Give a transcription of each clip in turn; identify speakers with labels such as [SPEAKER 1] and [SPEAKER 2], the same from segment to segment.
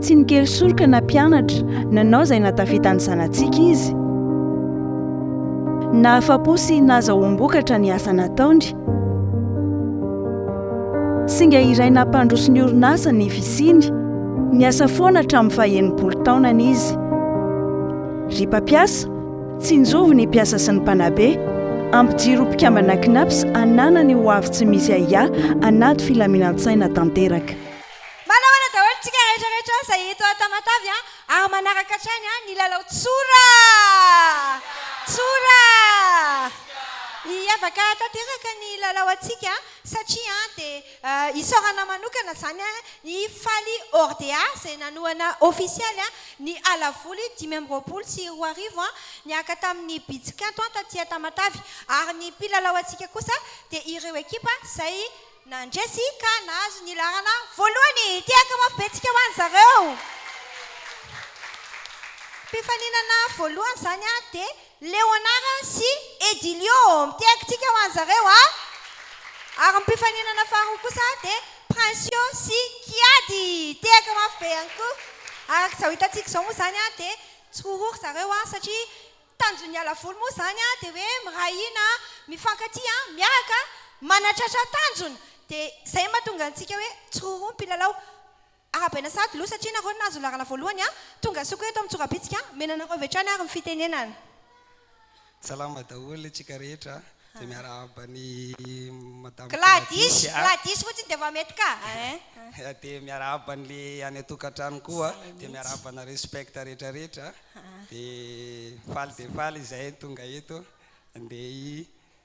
[SPEAKER 1] Tsy nikely soroka na mpianatra, nanao izay nahatafita ny zanatsika izy. Nahafa-po sy nahazahoam-bokatra ny asa nataony. Singa iray nampandroso ny orinasa ny fisiany. Niasa foana hatramin'ny faha-enimpolo taonany izy. Ry mpampiasa, Tsinjovy ny mpiasa sy ny mpanabe, ampijiro mpikambana Cnaps hanana ny ho avy tsy misy ahiahy anaty filaminan-tsaina tanteraka. Mba nahoana daholo tsika rehetra
[SPEAKER 2] rehetra zay eto à Tamatave a ary manaraka hatrany a ny lalao tsora tsora hiavaka tanteraka ny lalao antsika satria a de Isaorana manokana izany i Fally Ordea izay nanohana ofisialy ny alavoly dimy amby roapolo sy roa arivo niaraka tamin'ny Bitsikanto taty Tamatave ary ny mpilalao antsika kosa dia ireo ekipa izay nandresy ka nahazo ny laharana voalohany. Tehaka mafy be tsika ho an'i zareo. Mpifaninana voalohany izany dia Leonara sy Edilio, mitehaky tsika ho an zareo a! ary ny mpifaninana faharoa kosa dia Princio sy Kiadi, tehaka mafy be ihany koa, araka izao hitantsika izao moa izany a dia tsy ho ho ry zareo a! satria tanjon'ny ala voly moa izany a dia hoe miray hina, mifankatia, miaraka, manatratra tanjona, dia izay no mahatonga antsika hoe tsy ho ho ny mpilalao. Arabaina sahady lo satria nareo no nahazo laharana voalohany a! Tonga soko eto amin'ny tsorabitsika a! Omena anareo avy hatrany ary ny fitenenana.
[SPEAKER 3] Salama daholo antsika rehetra izay miarahaba an'i Madame Gladys a!
[SPEAKER 2] Gladys fotsiny dia efa mety ka a! Dia
[SPEAKER 3] miarahaba an'le any an-tokantrano koa dia miarahaba anareo spect rehetra rehetra dia faly dia faly izahay tonga eto andeha hi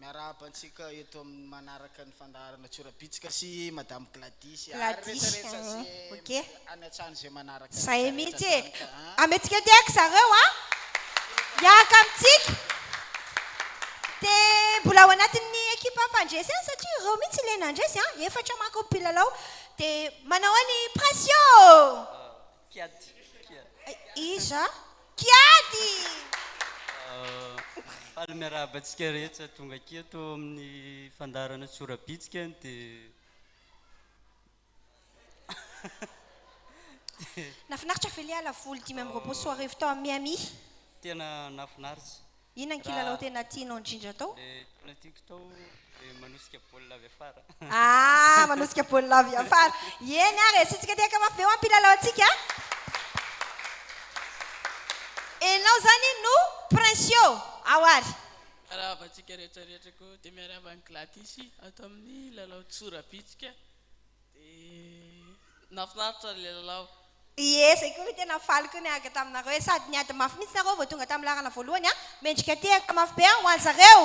[SPEAKER 4] Miarahaba antsika eto amin'ny manaraka ny fandaharana Tsorabitsika sy Madame Gladys ary Gladys, rehetra rehetra ze
[SPEAKER 2] ok. any an-tsano ze
[SPEAKER 4] manaraka Zahay rehetra mihitsy rehetra e. zany
[SPEAKER 2] ka a. Amentsika aty eky zareo a! Hiaraka amintsika. Dia mbola ao anatin'ny ekipa mpandresy ihany satria ireo mihitsy ilay nandresy a, efatra manko ny mpilalao. Dia manao ny Pression! Kiady, kiady. Iza? Kiady!
[SPEAKER 5] Faly miarahaba antsika rehetra tonga aky eto amin'ny fandaharana Tsorabitsika dia.
[SPEAKER 2] Nafinaritra ve le ala voly dimy amby roapolo sy roa arivo tao amin'ny Miami? Tena
[SPEAKER 5] nafinaritra. Inona ny kilalao
[SPEAKER 2] tena tianao indrindra atao? Ilay tena tiako atao
[SPEAKER 5] dia manosika baolina avy afara. Ah, manosika baolina avy
[SPEAKER 2] afara. Eny ary e, isika tehaka mafy ve ho am-pilalaontsika? Enao izany no Princio ao ary. Arahaba antsika
[SPEAKER 6] rehetra rehetra koa dia miarahaba an'i Gladys ato amin'ny lalao tsorabitsika. Dia nahafinaritra ilay lalao. Ie, zay koa
[SPEAKER 2] no tena faly koa niaraka taminareo e! Sady niady mafy mihitsy nareo vao tonga tamin'ny laharana voalohany a! Mendrika tehaka mafy be aho ho anzareo!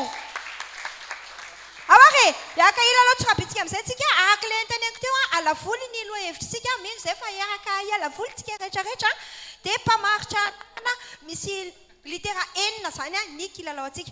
[SPEAKER 2] Ahoa re! Hiaraka hilalao tsirabintsika amin'izay tsika araka ilay noteneniko teo a! Alavoly ny lohahevitritsika, mino izay fa hiaraka hialavoly tsika rehetrarehetra a! Dia mpamaritra anarana misy litera enina izany ny kilalaontsika.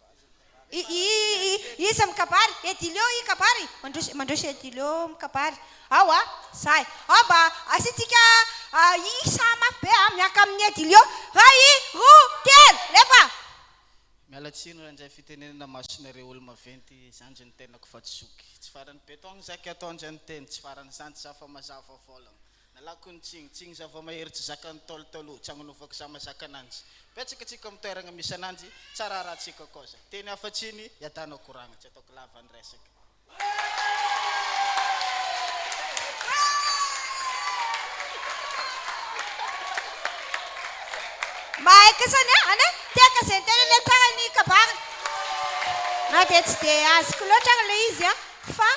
[SPEAKER 2] Iza mikabary? Edilio i kabary? Mandroso mandroso Edilio mikabary ao a! Zay ao mba asiantsika isa mafy be a! Miaraka amin'i Edilio, ray i, roa, telo, lefa! Miala
[SPEAKER 4] tsiny raha indray fitenenana masonareo olo-maventy zandry ny tenako fa tsy zoky tsy farany beton zaky ataondry an'teny tsy farany zandry za fa mazava volana Nalako ny tsiny, tsiny zava-mahery tsy zakan'ny Ntaolo taloha, tsy agnonovako za mazaka ananjy. Betsaka antsika amin'ny toeragna misy ananjy, tsara arahantsika koa za. Teny hafa tsiny, iadana koragna, tsy ataoko lava ny resaka.
[SPEAKER 2] Mahay kasany a, anie tehaka zay tena ilay tsara ny kabary, na dia tsy dia azoko loatra ary ilay izy a, fa.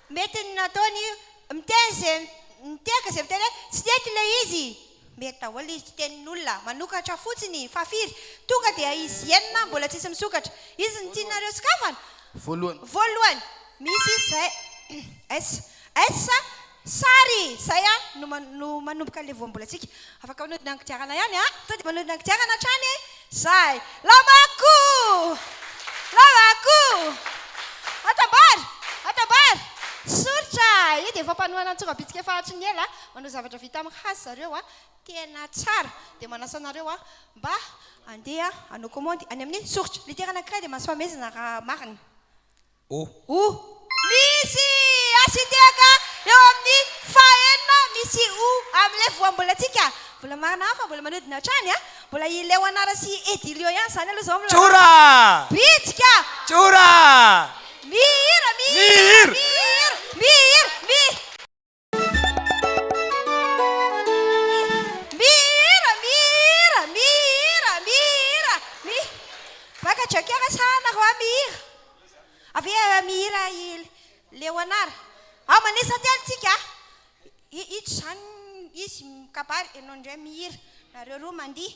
[SPEAKER 2] Mety ny nataony io, miteny ze miteka ze miteny hoe tsy nety le izy, mety daholo izy, tenin'olona manokatra fotsiny fa firy tonga dia izy henona mbola tsisy misokatra, izy ny tianareo sokafana? Voalohany, misy izy zay es es sary zay a no manomboka le voambolantsika, afaka manodina ny kodiarana ihany a, sao dia manodina ny kodiarana hatrany Zay! Lavako! Lavako! Atambara! Atambara! Soritra! Io dia fampanohana ny tsongabitsika fahatry ny ela manao zavatra vita amin'ny hazo zareo a! Tena tsara! Dia manasa anareo a! Mba handeha hanao komandy any amin'ny soritra! Litera anankiray dia mahazo fanomezana raha marina! Oh. Oh. Misy H hitehaka eo amin'ny fahenina, misy O amin'ilay voambolantsika. Mbola marina hafa mbola manodina hatrany a! Mbola i Leonard sy Edilio ihany izany aloha izao no lalao. Tjora!
[SPEAKER 7] Bitsika!
[SPEAKER 2] Tjora!
[SPEAKER 7] Mihira,
[SPEAKER 2] mihira, mihira, mihira, mihira. Mihira, mihira, mihira, mihira, mi- Vaga Joker sa nareo ah mihira? Avy eo mihira i Leonard. Ao manisa telo tsika ah. I- Ito izany izy mikabary, ianao indray mihira, nareo roa mandihy.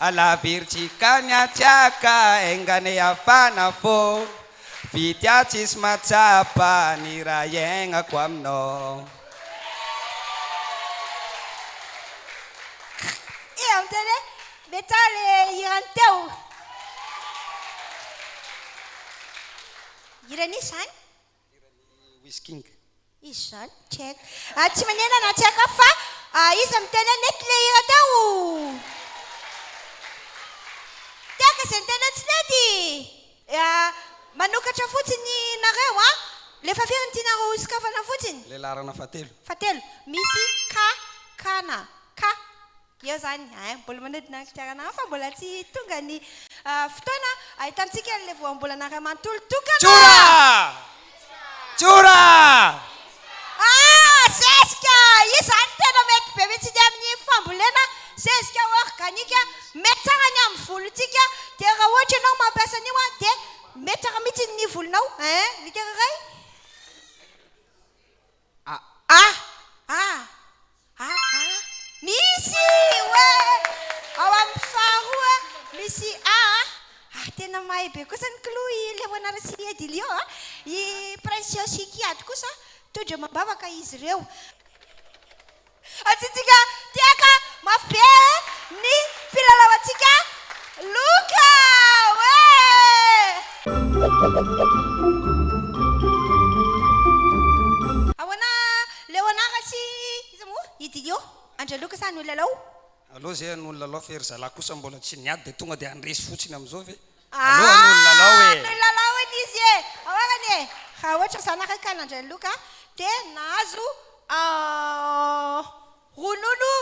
[SPEAKER 3] Ala virjy kany atsy aka engane hafana fô Vity aho tsisy mahatsapa ny hira iaignako aminao Kk
[SPEAKER 2] eh amin'izay re be tsara le hirany teo. Hira nisy zany?
[SPEAKER 3] Wizking. Izy
[SPEAKER 2] zany, tsy haiko. Ah, tsy manena na tsy haiko fa ah, iza miteny hoe nety le hira teo? Tehaka izay niteny hoe tsy nety! Ah, manokatra fotsiny nareo an! Le fa firy ny tianareo ho sokafana fotsiny? Le laharana fahatelo.
[SPEAKER 3] Fahatelo.
[SPEAKER 2] Misy ka, kana, ka. Eo izany, ein, mbola manodina ny kodiarana hafa, mbola tsy tonga ny fotoana ahitantsika an'ilay voambolana iray manontolo tokana. Tjora!
[SPEAKER 7] Tjora! Ah!
[SPEAKER 2] Zezika! Io izany tena mety be mihitsy ny amin'ny fambolena zezika organika, mety tsara ny amin'ny volontsika, dia raha ohatra ianao mampiasa an'io an, dia mety tsara mihitsy ny volonao, ein, ny tena iray. A a a a a Misy oe! Ao amin'ny faharoa misy a a a Tena mahay be kosa ny kilo i Leonard sy i Edilio a! I Princio sy i Kiady kosa toa-dramambavaka izy ireo. Atsitsika tehaka mafy be ny filalaoantsika loka oe! Ahoana Leonard sy iza moa? I Didio? Andry Aloka sa ny olona lao? Allo ze ny
[SPEAKER 3] olona lao fa i ry zalahy kosa mbola tsy niady dia tonga dia handresy fotsiny amin'izao ve? Aloha aloha ny lalao e! Ny lalao
[SPEAKER 2] anie izy e! Ahoana e! Raha ohatra za nareo ka nandray ny loka dia nahazo ronono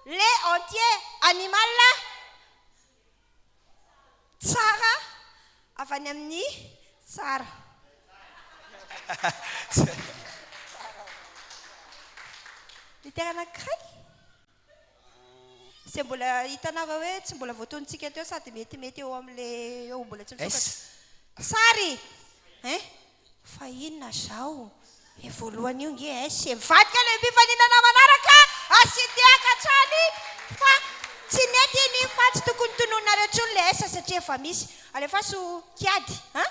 [SPEAKER 2] lait entier animal tsara avy any amin'ny tsara. Miterana kirainy? Izay mbola hitanareo hoe tsy mbola voatonontsika teo sady metimety eo amin'ilay eo mbola tsy nisokatra. Sary eh! Fa inona izao? Io voalohany io nge eh, sy mivadika ilay mpifaninana manaraka ah, sy tehaka hatrany fa tsy nety iny fa tsy tokony tononina reo intsony ilay eh, satria efa misy. Alefaso kiady ah!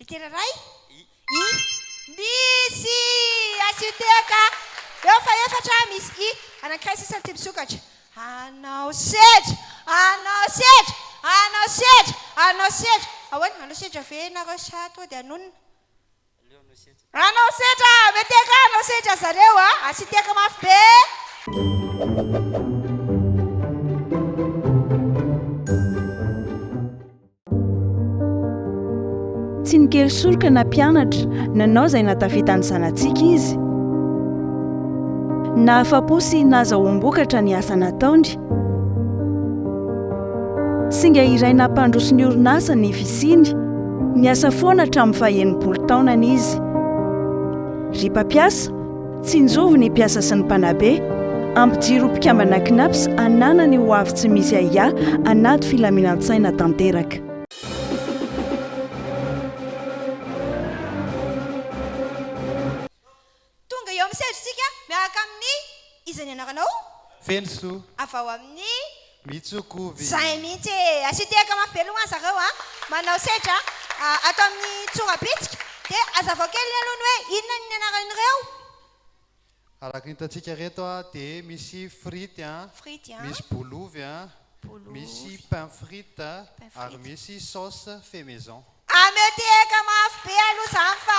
[SPEAKER 2] Ekera ray i i. Misy asio teo ka. Eo fa efatra misy i. Anankiray sisa ny tebisokatra. Anao sedra! Anao sedra! Anao sedra! Anao sedra! Ahoana? Anao sedra ve ianareo sa toa dia hanonona? Anao setra a! Mete ka anao setra zareo a! Asiteka mafy be!
[SPEAKER 1] Tsy nikely soroka na mpianatra, nanao izay nahatafita ny zanatsika izy. Nahafa-po sy nahazoa-boan-bokatra ny asa nataony. Singa iray nampandroso ny orinasa ny fisiany. Niasa foana hatramin'ny faha-enimpolo taonany izy. Ry mpampiasa, tsinjovy ny mpiasa sy ny mpanabe. Ampijiro ho mpikambana Cnaps hananany ho avy tsy misy ahiahy anaty filaminan-tsaina tanteraka.
[SPEAKER 2] Tonga eo amin'ny sedra isika miaraka amin'ny Iza ny anaranao? Feno soa.
[SPEAKER 8] Avy ao amin'ny.
[SPEAKER 2] Mitsokovy.
[SPEAKER 8] Izay mihitsy e!
[SPEAKER 2] Asio tehaka mafy be aloha an zareo a! Manao sedra ato amin'ny tsorabitsika dia azavao kely aloha ny hoe inona ny anaran'ireo?
[SPEAKER 8] Araka ny hitantsika ireto a dia misy frity a, Frity a. misy
[SPEAKER 2] bolovy a,
[SPEAKER 8] Bolovy. misy pain frite Pain frite. ary misy sauce fait maison. Ameteheka
[SPEAKER 2] mafy be aloha zany fa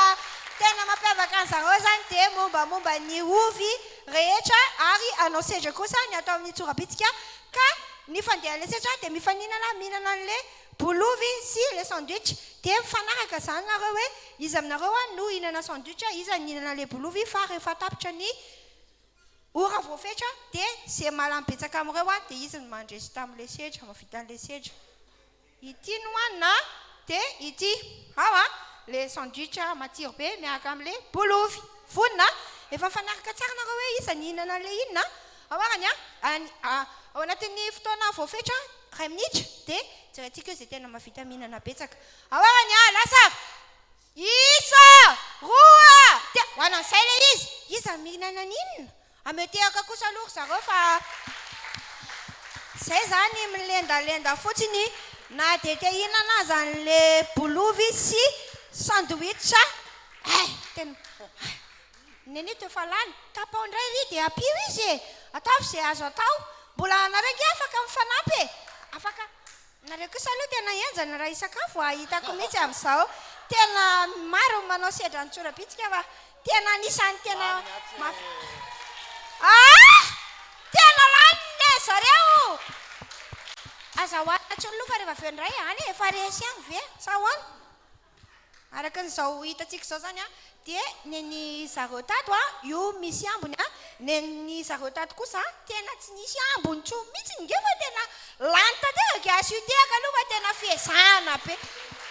[SPEAKER 2] tena mampiavaka an'i zareo zany dia mombamomba ny ovy rehetra ary anao sedra kosa ny atao amin'ny tsorabitsika ka ny fandehan'ilay sedra dia mifaninana mihinana an'ilay bol'ovy sy ilay sandwich dia mifanaraka zany nareo hoe iza aminareo any no hihinana sandwich iza ny hihinana ilay bol'ovy fa rehefa tapitra ny ora voafetra dia ze malany betsaka amin'ireo any dia izy no mandresy tamin'ilay sedra mahavita an'ilay sedra. Ity no hanina an, de ity. Ao an, le sandwich matsiro be miaraka am le bolofy. Vonona an. Efa mifanaraka tsara nareo hoe iza ny hihinana anle inona an. Ao arany an, any ao anatin'ny fotoana voafetra iray minitra de jerentsika eo ze tena mahavita mihinana betsaka. Ao arany an, lasa avy. Isa, roa, te-. Ho anan'izay le izy. Iza ny mihinana an'inona? Ametehaka kosa aloha ry zareo fa zay zany milendalenda fotsiny na dia te hihinana aza anle bolovy sy sandwich eh! tena eh! nenito efa lany tapao ndray ry dia apio izy e! ataovy ze azo atao mbola anareo nge afaka mifanampy e! afaka Nareo kosa aloha tena henjana raha hisakafo a! Hitako mihitsy amin'izao tena maro ny manao sedra ny tsorabitsika fa tena anisan'ny tena mafi Aa! Tena lany ne zareo! Aza hohanina intsony loha fa rehefa avy eo indray any e! Efa resy any ve sa ahoana? Araka an'izao hitantsika izao izany an, dia nen'ny zareo tato an, io misy ambiny an, nen'ny zareo tato kosa an, tena tsy nisy ambiny intsony mihitsy nge fa tena lany tanteraka an, sy io tehaka aloha fa tena fihezahana be,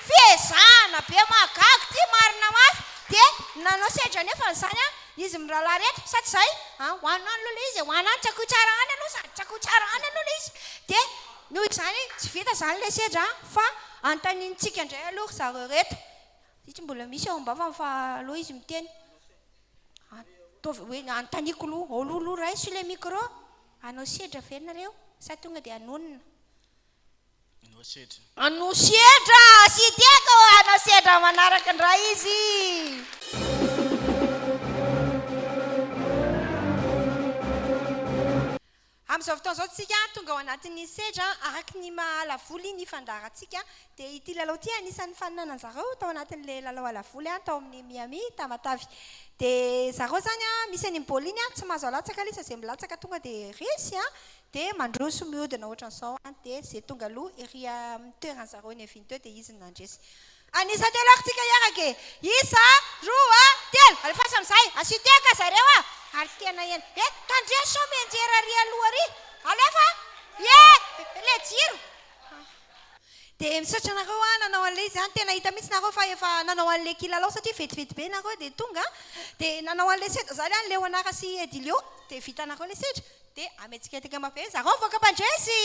[SPEAKER 2] fihezahana be mahagaga ity marina mafy, dia nanao sedra anefa izany an, izy mirahalahy ireto, sa tsy izay? an, ho anao aloha ilay izy e, ho anao tsakoy tsara any aloha, sady tsakoy tsara any aloha ilay izy, dia. Noho izany, tsy vita izany ilay sedra fa anontaniantsika indray aloha ry zareo ireto. Ity mbola misy ao am-bavany fa aleo izy miteny. Ataovy hoe anontaniako aloha, ao aloha raiso ilay micro, hanao sedra ve nareo sa tonga dia hanonona? Hanao sedra. Hanao sedra! Tsy tiako hoe hanao sedra manaraka indray izy. Amin'izao fotoana izao tsika tonga ao anatin'ny sedra araka ny maha alavoly ny fandaharantsika dia ity lalao ity anisan'ny fanonanan zareo tao anatin'ilay lalao alavoly tao amin'ny Miami Tamatave dia zareo zany misy an'iny baolina iny tsy mahazo alatsaka ilay izy fa zay milatsaka tonga dia resy dia mandroso miodina ohatran'izao dia zay tonga aloha ery amin'ny toeran'zareo niaviany teo dia izy no nandresy Anisa telo ako tsika hiaraka e! Isa, roa, telo! Alefaso amizay! Asio tehaka zareo a! Ary tena eny! E! Tandria sao mianjera ary aloha ary! Alefa a! Ie! Le jiro! Dia misaotra anareo a nanao an'ilay izy a, tena hita mihitsy nareo fa efa nanao an'ilay kilalao satria vetivety be nareo dia tonga a, dia nanao an'ilay seza zany a, Leonard sy Edilio, dia vitanareo ilay seza. Dia ametsiketaka mafy eo zarao vahoaka mpandresy!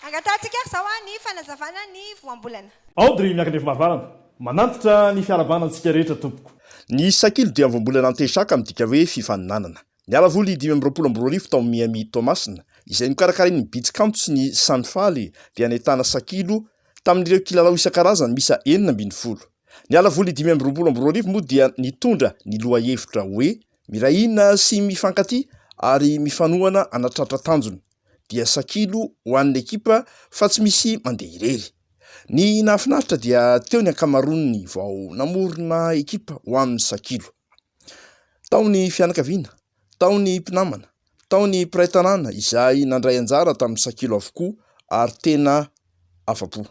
[SPEAKER 2] Angatahantsika ary izao ny fanazavana ny voambolana. Audrey Miakandrefy
[SPEAKER 9] Marivarana, Manantitra ny fiarahabana antsika rehetra tompoko. Ny sakilo dia
[SPEAKER 10] voambolana antesaka midika hoe fifaninanana. Niala voly dimy amby roapolo amby roa arivo tao Miami Toamasina, izay nokarakarain'ny Beach Kanto sy ny Sanifaly, dia nahitana sakilo tamin'ireo kilalao isan-karazany miisa enina ambin'ny folo. Ny ala voly dimy amby roapolo amby roa arivo moa dia nitondra ny lohahevitra hoe Miray hina sy mifankatia ary mifanohana hanatratra tanjona. Dia sakilo ho an'ny ekipa fa tsy misy mandeha irery. Ny nahafinaritra dia teo ny ankamaroan'ny vao namorona ekipa ho amin'ny sakilo. Tao ny fianakaviana, tao ny mpinamana, tao ny mpiray tanàna izay nandray anjara tamin'ny sakilo avokoa ary tena afa-po.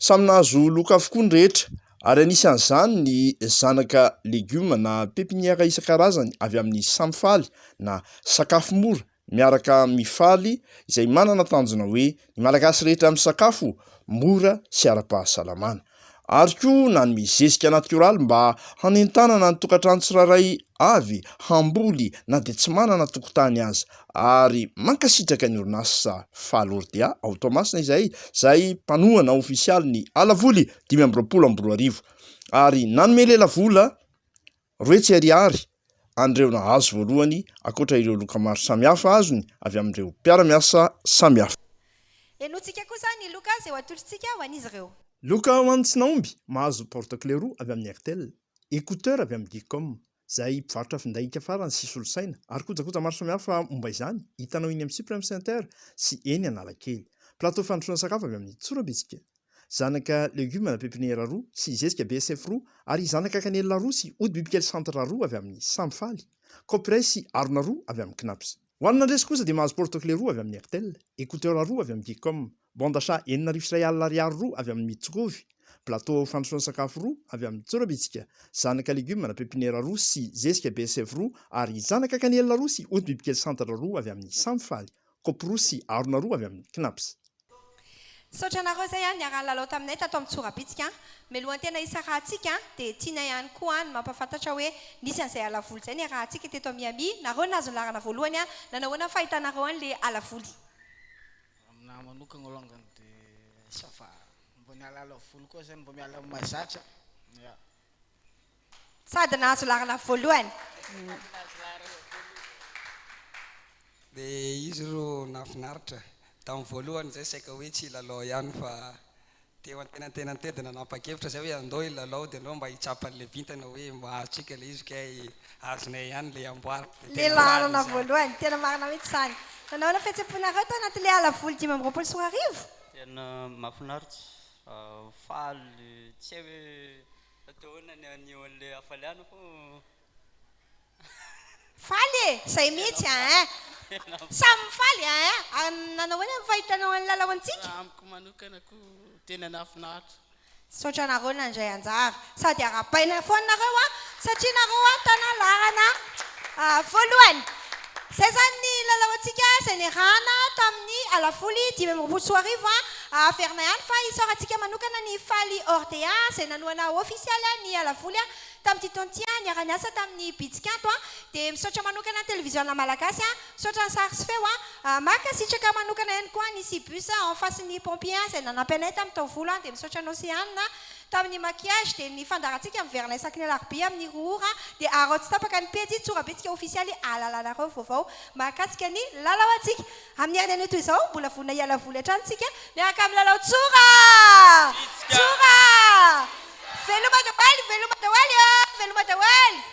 [SPEAKER 10] Samy nahazo loka avokoa ny rehetra ary anisan'izany ny zanaka legioma na pepiniera isan-karazany avy amin'ny samy faly na sakafo mora miaraka amin'ny faly izay manana tanjona hoe ny Malagasy rehetra misakafo mora sy ara-pahasalamana. Ary koa nanome zezika natioraly mba hanentanana ny tokantrano tsirairay avy hamboly na dia tsy manana tokotany aza ary mankasitraka ny orinasa Faly Ordia ao Toamasina izay izay mpanohana ofisialy ny Alavoly dimy amby roapolo amby roa arivo ary nanome lelavola Roa hetsy ariary an'ireo nahazo voalohany ankoatra ireo loka maro samihafa azony avy amin'ireo mpiara-miasa samihafa. Henointsika
[SPEAKER 2] kosa ny loka izay ho atolotr'tsika ho an'izy ireo. Loka ho an'ny tsy
[SPEAKER 9] nahomby mahazo porte-clé roa avy amin'ny Airtel, écouteurs avy amin'ny Geecom, izay mpivarotra finday ika farany sy solosaina ary kojakoja maro samihafa momba izany hitanao eny amin'ny Supreme Center sy eny Analakely. Plateau fandrosoana sakafo avy amin'ny Tsorambitsika. Zanaka legioma pepiniera roa sy zezika BSF roa ary zanaka kanelina roa sy ody bibikely centre roa avy amin'ny Samy Faly, Copyright sy harona roa avy amin'ny Cnaps. Ho an'ny nandresy kosa dia mahazo porte-clé roa avy amin'ny Airtel, écouteurs roa avy amin'ny Geecom, bande achat enina arivo sy iray alina ariary roa avy amin'ny Mitsokovi, plateau fandrosoana sakafo roa avy amin'ny Tsorabitsika, zanaka legioma pepiniera roa sy zezika BSF roa ary zanaka kanelina roa sy ody bibikely centre roa avy amin'ny Samy Faly, kopy roa sy harona roa avy amin'ny Cnaps. Misaotra
[SPEAKER 2] anareo izay niara-nilalao taminay tato amin'ny Tsorabitsika. Melohan-tena hisarahantsika dia tianay ihany koa ny mampahafantatra hoe nisy an'izay alavoly izay niarahantsika teto Miami. Nareo no nahazo ny laharana voalohany. Nanao ahoana ny fahitanareo an'ilay alavoly?
[SPEAKER 4] Aminah manokana alongany dia ça va. Mba ny alavoly koa izany mba miala amin'ny mahazatra. Ya.
[SPEAKER 2] Sady nahazo laharana voalohany.
[SPEAKER 3] Dia izy ro nahafinaritra. Tamin'ny voalohany izay saika hoe tsy hilalao ihany fa teo antenantenan'ny tendona nanapa-kevitra izay hoe andao hilalao dia andao mba hitsapa an'ilay vintana hoe mba azontsika ilay izy kay azonay ihany ilay amboara. Dia Ilay tena faly laharana izany.
[SPEAKER 2] voalohany. Tena marina mihitsy izany. Nanao ny fihetsem-ponareo tao anatin'ilay ala voly dimy amby roapolo sy roa arivo? Tena
[SPEAKER 5] mahafinaritra Faly tsy hay hoe hatao ahoana ny haneho an'ilay hafalianako an.
[SPEAKER 2] Faly e! Izay mihitsy an! Samy mifaly an! Nanao ahoana ny fahitanao an'i Lala ho antsika? Raha amiko manokana
[SPEAKER 6] koa tena nahafinaritra. Misaotra anareo
[SPEAKER 2] nandray anjara. Sady arahabaina foana nareo a! Satria nareo a tana laharana voalohany. Zay zany ny lalao antsika zay niarahana tamin'ny alavoly dimy amby roapolo sy roa arivo a! Averina ihany fa isaorantsika manokana ny Faly Ordea zay nanohana ofisialy a ny alavoly a tamin'ity taona ity a! Niara niasa tamin'ny Bitsikanto a! Dia misaotra manokana ny Televiziona Malagasy a! Misaotra ny sary sy feo a! Mankasitraka manokana ihany koa ny Cibus en face ny Pompier a zay nanampy anay tamin'ny taovolo a! Dia misaotra anao Seanina a! Tamin'ny maquillage dia ny fandaharantsika miverina isaky ny alarobia amin'ny roa ora dia araho tsy tapaka ny pejy tsorabentsika ofisialy ahalalanareo vaovao mahakasika ny lalao antsika. Amin'ny herin'ny anio toy izao, mbola vonona hiala voly hatrany isika miaraka amin'ny lalao tsora! Tsora! Veloma dawaly, veloma dawaly ô! Veloma dawaly!